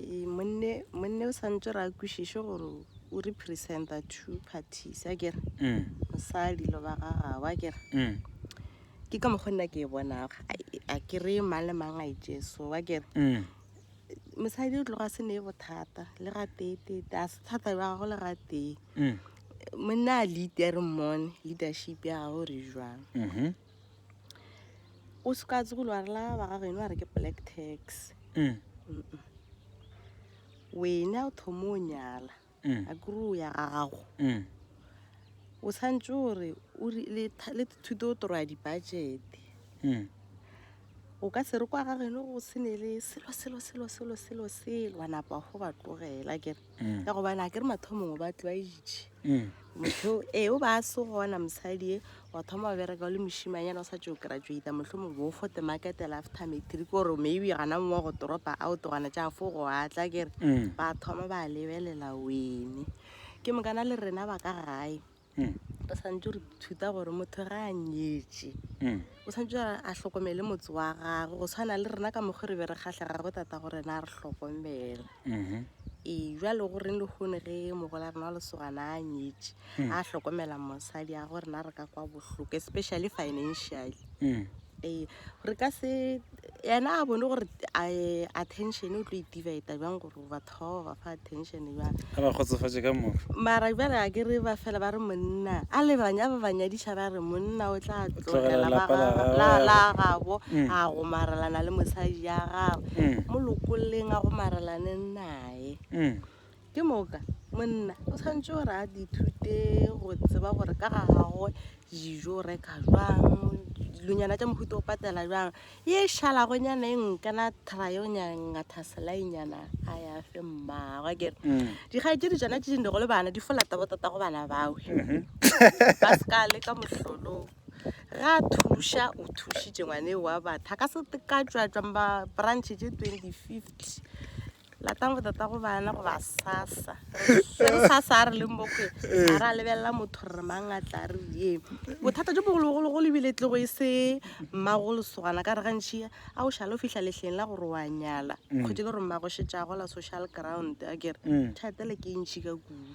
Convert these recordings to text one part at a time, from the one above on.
Ee, monne monne o santse re a kwešiše gore o representa two parties a kere Mm, mosadi lo ba ga gago a kere mm, ke ka mokgwa nna ke e bonago a kere mang le mang a itše so a kere mm, mosadi o tloga a se ne bothata le ga teetete a se thata ba gago le ga tee mm, monna a lead a re mmone leadership ya gago re jwang mhm, o se ka tsegolo wa rela ba ga geno a re ke black tax mm. wene a o thoma o nyala mm. a kore o ya ga gago mm. o tshwanetse gore le thuto o toroya dibajete mm. o ka se re kwa ga geno go sene le selo selo selo selo selo selo wa napa go ba tlogela kere mm. ka gobane a ke re mathomong o ba tlwaeditše mm. motho ee o ba a se gona mosadi e wa thoma wa bereka o le mošimanyana o sa tse o graduata motlho mongwe bo fote markete lafter metri ke gore maybe gana mongwe wa go toropa a o togana tša fo go atla kere mm. ba thoma ba lebelela wene ke mokana le rena ba ka gae mm. re santse re thuta gore motho ga a nyetse mm. o santse a tlhokomele motse wa gagwe go tshwana le rena ka mokgwa re be re kgatlha gagwe tata gore na re tlhokomela mm-hmm. ee jale go reng le kgone ge mogola rena wa lesogana a nyetse mm. a tlhokomela mosadi ya gore na re ka kwa bohloko especially financially mm. ee re ka se ena a bone gore eh, attention o tlo e divida bjang gore batho ba ba ba fa attention bjang a ba kgotsofatše ka moka mara bjale a ke re ba fela ba re monna a le banya ba ba nyadiša ba re monna o tla tlogela ba lapa la ga- gabo. la- la gabo Mm. a gomarelana le mosadi ya gabo Mm. mo lokoleng a gomarelaneng naye Mm. Ke moka monna o tshwanetse gore a dithute go tseba gore ka ga gagwe dijo reka jwang dilonyana tša mohuta o patela jwang ye šalago nyana e nkana trayo nyangathaselainyana a ya fe mmagwe kere mm. dikgai tše di tsona tše dinde go le bana di folata botata go bana bawe mm-hmm. ba se ka le ka mohlolong ga thuša o thušitše ngwane wa batho a ka se ka tswatswang ba branch tše twenty fifty latang go tata go bana go ba sasa se re sasa a re leng bokwe a re a lebelela motho re mang a tla re ye bothata jo bogologologolo ebile tlego e se mmagolosogana ka re gantšhi a o šale o fitlha letlheng la gore wa nyala mm. kgwedi le gore mmagošetšago la social ground a kere mm. thatele ke ntšhi ka kudu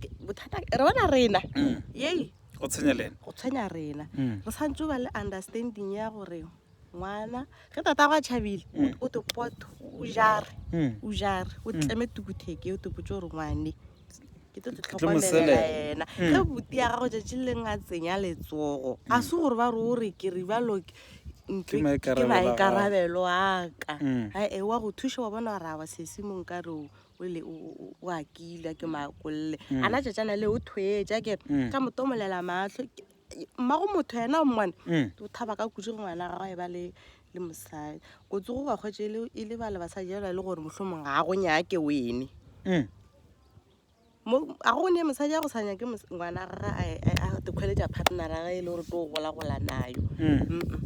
Ke- bothata ke- re bona rena yei go tshwenya lena go tshwenya rena Mm. re santse ba le understanding ya gore ngwana ge tata go a tšhabile Mm. o te poto o jare Mm. o jare o tleme tukutheke o te potse gore ngwane ke tlo tlo tlo mo tlhokomelela selela. ena Mm. ge buti ya gago tšatši le leng a tsenya letsogo a se gore ba re o re ke ribalo ke- ntlo Ke maikarabelo a gago. maikarabelo aka Mm. ae wa go thuša wa bona gore a wa sesimong ka re o ole o- o- o- o a kila ke makolle a na tšatšana le o thwetša ke re ka motomolela matlho Ke- mmago motho yena o mmone Mm. o thaba ka kudu go ngwana gagwe e ba le le mosadi go tsogo ga kgwetse e le- e le bale basadi jalo e le gore mohlomong ga go nyake wene Mm. Mo- a go ne mosadi ya go sa nyake mos- ngwana ga a dikgweletša partnera ge e le gore to golagola nayo Mm. Mm-mm.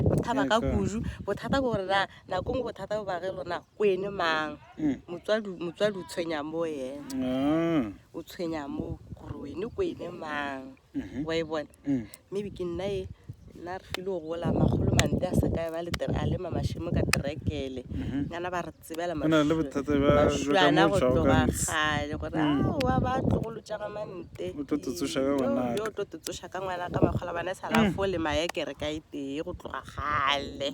bothata ka Yaka. kudu bothata ke gore na nako ngwe bothata bo bage lonago o ene mang mm. motswadi motswadi o tshwenya mo ene mm. o tshwenya mo gore wene ko ene mang mm -hmm. wa e bona mm. maybe ke nna e nna re file go gola magolo mante a sekae ba le a lema mashimo ka terekele mm-hmm. ngana ba re tsebela mashuana go tloga gale gore mm. aowa ba tlogolo jaga mante yo tlo tetsoša ka ngwana ka makgola bana e sala mm. fo le maekere ka e tee go tloga gale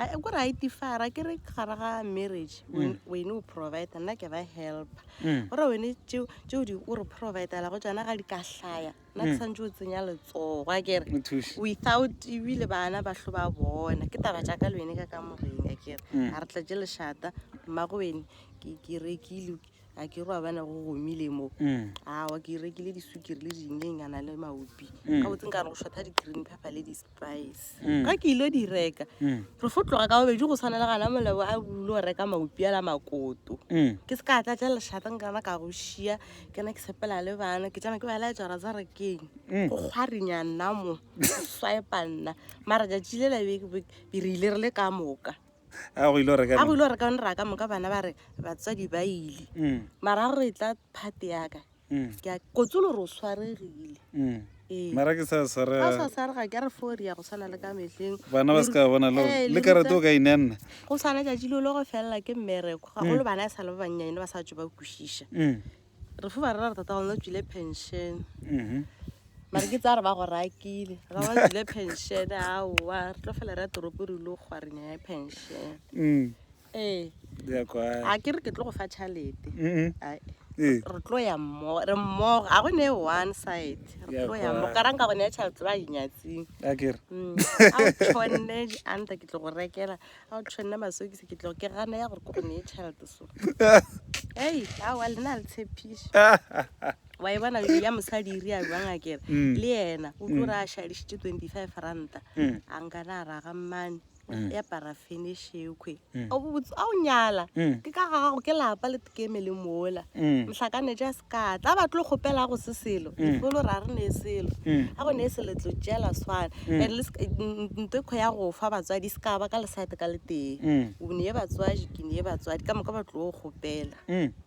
A- e kore a itifara ke re gare ga marriage wen- wene o provider nna ke ba helper Mm. gore wene tšeo tšeo di o re providela go tsona ga di ka hlaya nna ke santse o tsenya letsogo a kere O thuše. without ebile bana ba hlo ba bona ke taba tša ka le wene ka ka moreng a kere a re tlatše lešata mmago wene ke ke rekile a ke ro a bana go gomile mo mm. awa ke rekile disukiri le dineng a na le maopi mm. ka botse nka re go shotha di-green pepper le di-spice mm. ga ke ile di reka re fo tloga ka bobedi go tshwana le gana molebo a bule go reka maopi ala makoto ke se ka tla tla leshata nkana ka go šia ke na ke sepela le bana ke tsena ke ba laetsa ra tsa rekeng go kgwarinya nna mo swipa nna mara jatši le labe re ile re le ka moka a go ile go reka a go ile go reka nra ka moka bana ba re batswadi ba ile mm. mara go e tla phate yaka mm. ke a kotsolo re o swaregile mm. ee. mara ke sa swarega sa swarega ke re fori ya go tshwana le ka mehleng bana ba se ka bona lo eh, le karate o ka ine nna go swana ja jilo lo go fella ke mmereko ga go mm. lo bana e sa le ba bannyane ba sa tšo ba kwešiša mm. re fo ba rera re tata gona o tswile pension mhm. mare ke tsa re ba go rakile ra ba tswile pension aowa re tlo fela re ya toropo re ile go gwarenya ya pension mm. ee a ke re ke tlo go fa tšhalete mm-hmm. ee. re tlo ya mmogo re mmogo ga go ne one side re tlo ya mmogo ka ranka gone ya tšhalete ba inyatsing mm. a tshwanne anta ke tlo go rekela ga o tshwanne masokisi ke tlogo ke gana ya gore ko go neye tšhelete so ei awa le na le tshepišo wa e bona ya mosadi e ria jwang a kere mm. le yena o tlo mm. re a šadišitše twenty five ranta mm. a nkana a raga mmane ya parafene e šekgwe a o nyala ke ka gago ke lapa le tekeme le mola mohlakanetša Ka tla ba tlo kgopela go se selo mm. ifolo ra re ne selo mm. a go ne se letlo tšela swana mm. and ntekgo ya go fa batswadi se ka ba ka lesate ka letee o ne ye batswadi ke ne ye batswadi ka moka ba tlo kgopela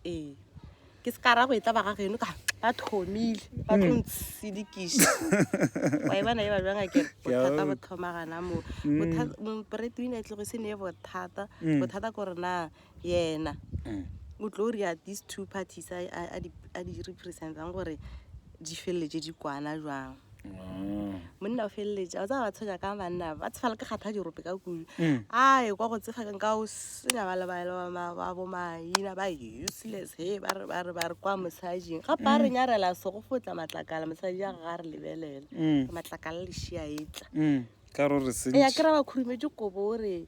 ee ke se ka ra go e tla ba ga geno ka ba thomile ba tlo ntsedikiša wa e bona e ba jwang akere bothata bo thomagana moo bothata mm. mm, breadwinner e tlogo se ne bothata bothata ko re na mm. yena mm. o tlo ria these two parties a di representang gore di feleletse di kwana jwang ah. monna o feleletša o tsa ba tshwenya ka banna ba tshefala ke kgatha dirope ka kudu mm. a e kwa go tsefa ka o senya ba lebaelaba bo maina ba useless he ba re ba re kwa mosajing ga pa re mm. nyarela se go fotla matlakala mosaji a ga re lebelela matlakala lešia etla ya kry-a ba khurumetse kobo o re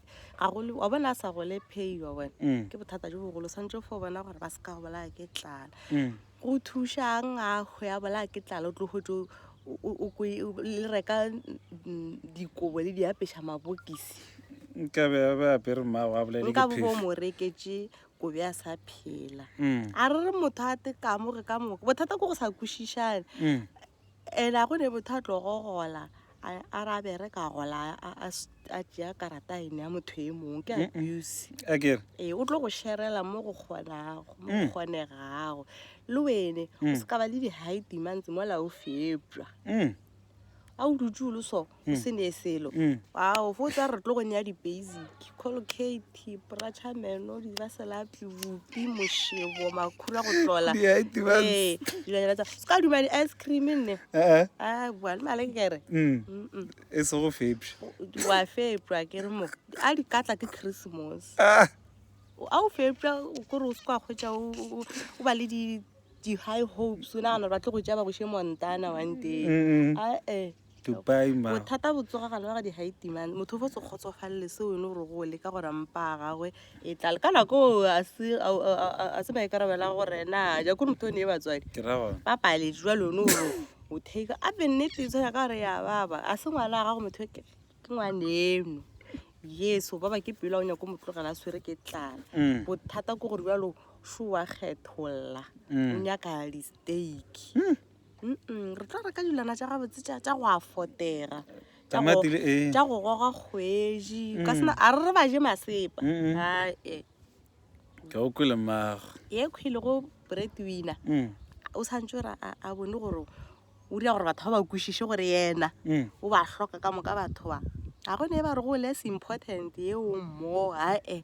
ga gole wa bona a sa gole pheiwa wena Mm. ke bothata jo bogolo swantse fo bona gore ba se ka go bolaya ke tlala Mm. go thušang a hwe a bolaya ke tlala o tlo hwetse o- o- o kwe- o- le reka mm, dikobo le di apeša mabokisi nkabe a be apere mmago a bolele nka ke bo bo phefo mo reketse kobe a sa phela Mm. a re re motho a tekamo re ka moka bothata ko go sa kwešišane Mm. ena go ne motho a tlo go gola a arabe re ka gola a tšea karata ene ya motho e mongwe ke abuse ee o tlo go sherela mo go kgonago mo go mm. kgonegago le wene o mm. se ka ba le di-high demands mola o fepša mm. a o dutse o le so o se ne selo ao fo tsa re tlo go nea di-basic colcate prachameno diraselatli bopi mošebo makhura go tlola ee dilanyana tsa se ka dumane ice cream nne a bua le male kere e se go fepša wa fepša ke re mo a di katla ke christmas a o fepša kore o se kwa kgwetša o ba le di di-high hopes o nagana ba tlo go tšea ba boše montana one day ae Dubai ma. Bothata bo tsoga gale wa ga di-haiti man. Motho o fo se kgotsofalele se wene gore go le ka gore mpa a gagwe e tlale. Ka nako a se maikarabela gore na ja kore motho o ne e batswadi. Ba paletse jwa lone gore o take a be nnete e tshwana ka gore ya baba. A se ngwana a gago motho ke ngwana eno. Yes, o baba ke pelo a o nyako motlogela a swere ke tlala. Mm. Bothata ke gore jalo sho wa kgetholla. Mm. O nyaka di-steak. Mm. re tlo reka dilwana tša gabotse tša go afotera tša go goga kgwedi ka sena a re re ba je masepa ae ka o kwele mago ye kgwele go bread winner o tshwanetse gore a bone gore o dira gore batho ba ba kwešiše gore yena o ba hloka ka moka batho ba ga gone e ba re go less important ye o mmo ae